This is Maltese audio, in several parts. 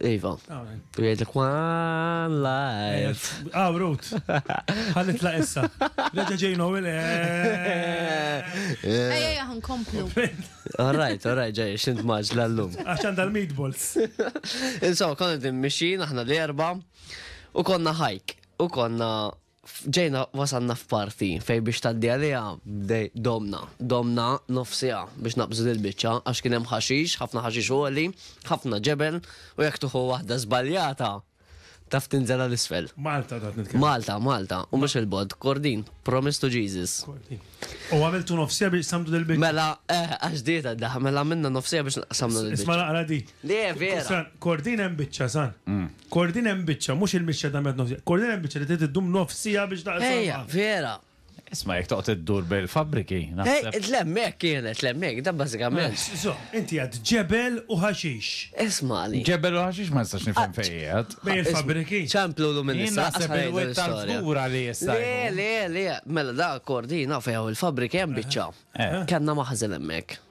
Iva. U jgħidlek one life. Ah, Ruth. Ħallit la issa. Reġa ġej Noel. Ejja, ħan komplu. Alright, alright, ġej, xint maġ l-lum. Għaxan dal-meatballs. Insomma, konna din mixin, aħna l-erba. U konna hike. U konna Ġejna wasalna f'parti fejn biex tgħaddi għaliha domna. Domna nofs siegħa biex naqbżu dil-biċċa għax kien hemm ħaxix, ħafna ħaxix għoli, ħafna ġebel u jekk tieħu waħda żbaljata taf tinżel għal isfel. Malta ta' nitkellem. Malta, Malta, u mhux il-bod, Kordin, promise to Jesus. U għamiltu nofsija biex samdu del biċċa. Mela, eh, għax dieta daħ, mela minna nofsija biex samdu del biċċa. Isma naqra di. Le, vera. Kordin hemm biċċa, san. Mm. Kordin hemm biċċa, mhux il-mixja dam nofs siegħa. Kordin hemm biċċa li trid iddum nofs siegħa biex taqsam. Ejja, vera. Isma' jekk toqgħod iddur bejn il-fabbriki, naħseb. Ejja, l-hemmhekk kienet, l-hemmhekk, dan bażikament. Żomm, inti għedt ġebel u ħaxix. Ismagħni. Ġebel u ħaxix ma nistax nifhem fejn qiegħed. Bejn il-fabbriki. Ċemplu llum in-nisa. Jien naħseb li wied tant kbur għalih issa. Le, le, le, mela dak Kordin naf fejn hawn il-fabbriki hemm biċċa. Kellna maħżen hemmhekk.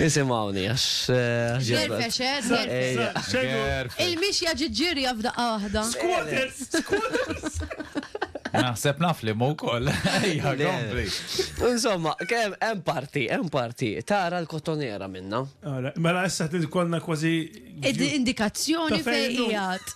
Isimgħuni għax Gerfex, eh, gerfex. Gerfex. Il-mixja ġiet ġirja f'daqqa waħda. Squatters, squatters. Naħseb naf li mu koll. Ejja, kompli. Insomma, kem hemm parti, hemm parti, tara l-kotonera minna. Mela issa t-kolna kważi. Indikazzjoni fejn qiegħed.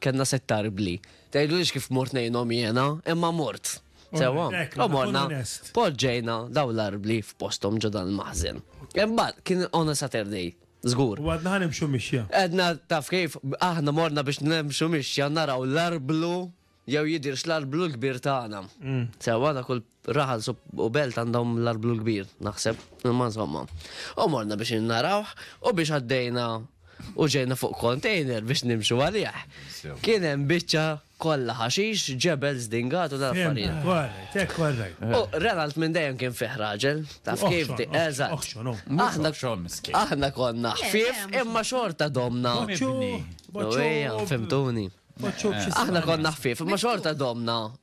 Kellna sett tarbli. Tgħidlux kif mort ngħinhom jiena, imma mort. Sewwa, u morna poġġejna daw l-arbli f'posthom ġo dan il-maħżen. Imbagħad kien on a Saturday, żgur. U għadna ħanimxu mixja. Għadna taf kif aħna morna biex nimxu mixja naraw l-arblu jew jidirx l-arblu l-kbir tagħna. Sewwa dak Raħal u Belt għandhom l-arblu l-kbir, naħseb, imma insomma. U morna biex narawh u biex għaddejna u ġejna fuq kontejner biex nimxu għalih. Kien hemm biċċa kollha ħaxix, ġebel zdingat u l-affarijiet. U Renalt minn dejjem kien fih raġel, taf kif di, eżatt. Aħna konna ħfief imma xorta domna. Fimtuni. Aħna konna ħfief, imma xorta domna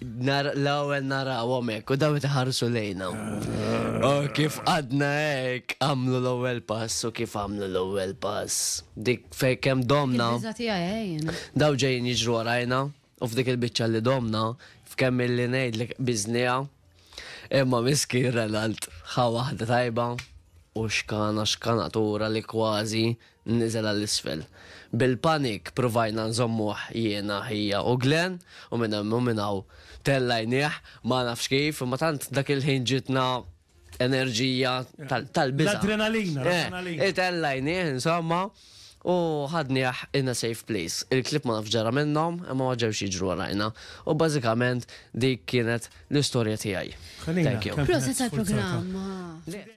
L-ewwel narawhom hekk u daw iħarsu lejna. U kif għadna hekk għamlu l-ewwel pass u kif għamlu l-ewwel pass. Dik fejn kemm domna. Daw ġejjin jiġru għarajna u f'dik il-biċċa li domna f'kemm illi ngħidlek biżnija. Imma miskin Renald ħa waħda tajba u xkana xkanatura li kważi Niżel għal isfel. Bil-panik pruvajna nżommuh jiena, hija u Glenn u minn hemm u minn hawn tellajnieh, ma nafx kif, imma tant dak il-ħin ġietna enerġija tal-biża'. L-adrenalina, l-adrenalina. Eh, tellajnieh insomma u ħadnieh in a safe place. Il-klieb ma nafx ġara minnhom, imma ma ġewx jiġru warajna. U bażikament dik kienet l-istorja tiegħi. Thank you. Proset għall-programm.